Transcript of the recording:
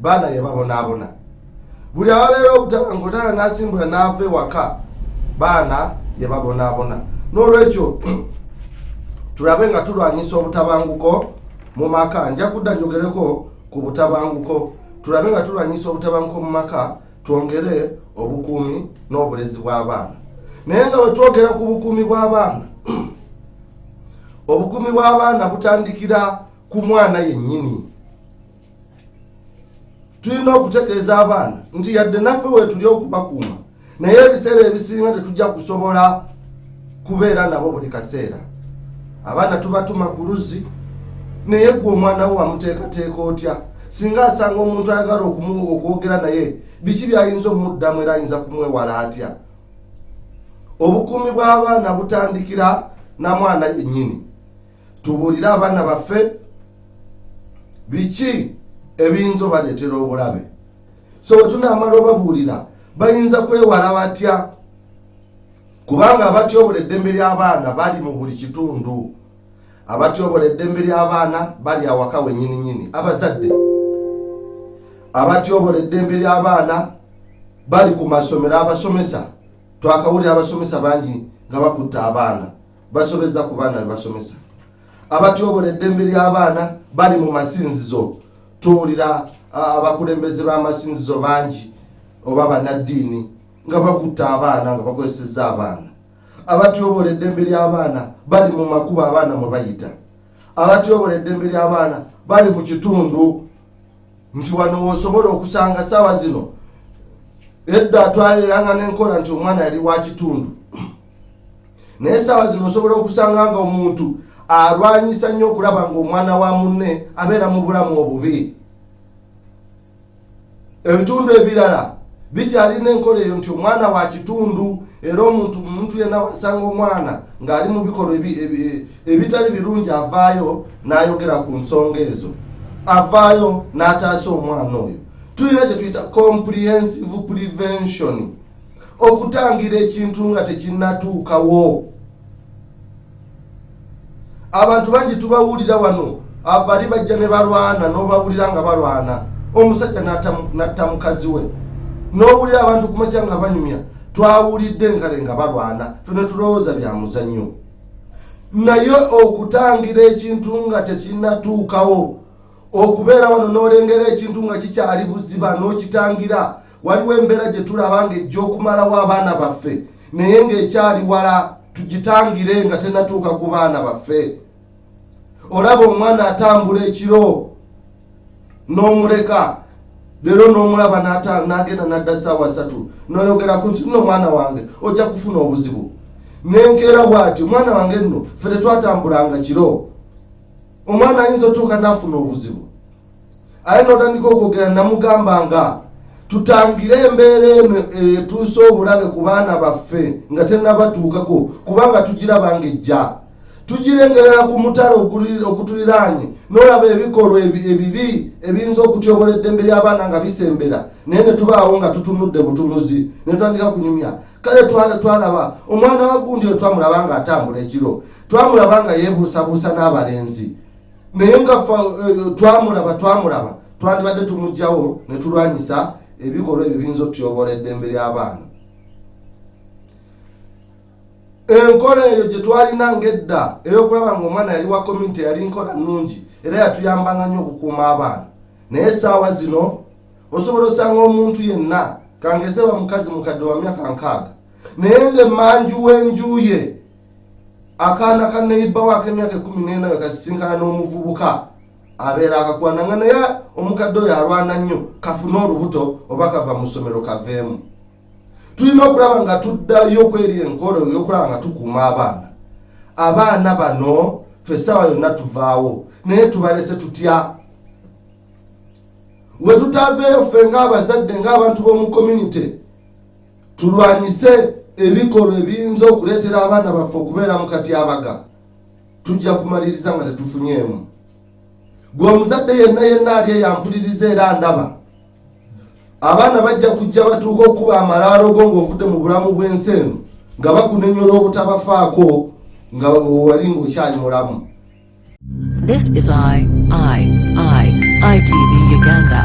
baana yababonaabona buli ababeera obutaba ngaotaana nasimbula naava ewaka baana yababonaabona n'olwekyo tulabe nga tulwanyisa obutabanguko mu maka nja kudda njogereko ku butabanguko tulabe nga tulwanyisa obutabanguko mu maka twongere obukuumi n'obulezi bw'abaana naye nga wetwogera ku bukuumi bw'abaana obukuumi bw'abaana butandikira ku mwana yennyini tulina okutegeeza abaana nti yadde naffe wetuli okubakuuma naye ebiseera ebisinga tetujja kusobola kubeera nabo buli kaseera abaana tubatuma ku luzzi naye gwe omwana wo wamuteekateeka otya singa asanga omuntu ayagala okwogera naye biki byayinza omuddamu era ayinza kumwewala atya obukuumi bw'abaana butandikira na mwana yennyini tubuulire abaana baffe biki ebiyinza obaleetera obulabe so bwe tunaamala obabuulira bayinza kwewala batya kubanga abatyobola eddembe ly'abaana bali mu buli kitundu abatyobola eddembe ly'abaana bali awaka wenyininyini abazadde abatyobola eddembe ly'abaana bali ku masomero abasomesa twakawulira abasomesa bangi nga bakutte abaana basobezza ku baana bebasomesa abatyobola eddembe ly'abaana bali mu masinzizo tuwulira abakulembeze b'amasinzizo bangi oba banaddiini nga bakutta abaana nga bakozesezza abaana abatyobola eddembe ly'abaana bali mu makubo abaana mwe bayita abatyobola eddembe ly'abaana bali mu kitundu nti wano wosobola okusanga saawa zino edda twaleranga n'enkola nti omwana yali wa kitundu naye saawa zino osobola okusanga nga omuntu alwanyisa nnyo okulaba nga omwana wa munne abeera mu bulamu obubi ebitundu ebirala bikyalina enkola eyo nti omwana wa kitundu era omuntu omuntu yena wasanga omwana ng'ali mu bikolwa ebitali birungi avaayo n'ayogera ku nsonga ezo avaayo n'ataasa omwana oyo tulina kye tuyita comprehensive prevention okutangira ekintu nga tekinnatuukawo abantu bangi tubawulira wano abali bajja ne balwana n'obawulira nga balwana omusajja natta mukazi we n'owulira abantu kumakya nga banyumya twawulidde nkale nga balwana fene tulowooza bya muzannyo naye okutangira ekintu nga tekinnatuukawo okubeera wano n'olengera ekintu nga kikyali buziba n'okitangira waliwo embeera gye tulaba ng'ejja okumalawo abaana baffe naye ng'ekyali wala tugitangire nga tenatuuka ku baana baffe olaba omwana atambula ekiro n'omuleka leero n'omulaba n'agenda n'adda ssaawa satu n'oyogerako nti nno omwana wange ojja kufuna obuzibu nenkeera bwati omwana wange nno fe tetwatambulanga kiro omwana ayinza otuuka n'afuna obuzibu aye notandika okwogera namugamba nga tutangire embeera eno etuuse obulabe ku baana baffe nga tenabatuukako kubanga tugiraba nga ejja tugirengerera ku mutala ogutuliraanye n'olaba ebikolwa ebibi ebiyinza okutyobola eddembe ly'abaana nga bisembera naye ne tubaawo nga tutunudde butunuzi ne tutandika kunyumya kale twalaba omwana wa gundi oyo twamulaba nga atambula ekiro twamulaba nga yeebuusabuusa n'abalenzi naye nga eh, twamulaba twamulaba twandibadde tumugjawo netulwanyisa ebikolwa ebyo biyinza otuyoboola eddembe ly'abaana enkola eyo gye twalina ngaedda ey'okulaba nga omwana yali wa community yali nkola nnungi era yatuyambanga nnyo okukuuma abaana naye esaawa zino osobola osanga omuntu yenna kangezeba mukazi mukadde wa myaka nkaaga naye nga emanju w'enjuye akaana ka neyibba waako emyaka ekumi nena we kasisinkana n'omuvubuka abeera akakwana nga naye omukadde oyo alwana nnyo kafune olubuto oba kava mu ssomero kaveemu tulina okulaba nga tuddayo okweri enkolo yokulaba nga tukuuma abaana abaana bano fe ssaawa yonna tuvaawo naye tubalese tutya wetutaveeyo ffe ng'abazadde ng'abantu b'omu community tulwanyise ebikolwa ebiyinza okuleetera abaana baffe okubeera mu katyabaga tujja kumaliriza nga tetufunyeemu gwe omuzadde yenna yenna ali eyampuliriza era ndaba abaana bajja kujja batuuka okuba amalaalo go ng'ovudde mu bulamu bw'ensi eno nga bakunenyola obutabafaako nga wali ng'okyali mulamu This is I, I, I, ITV Uganda.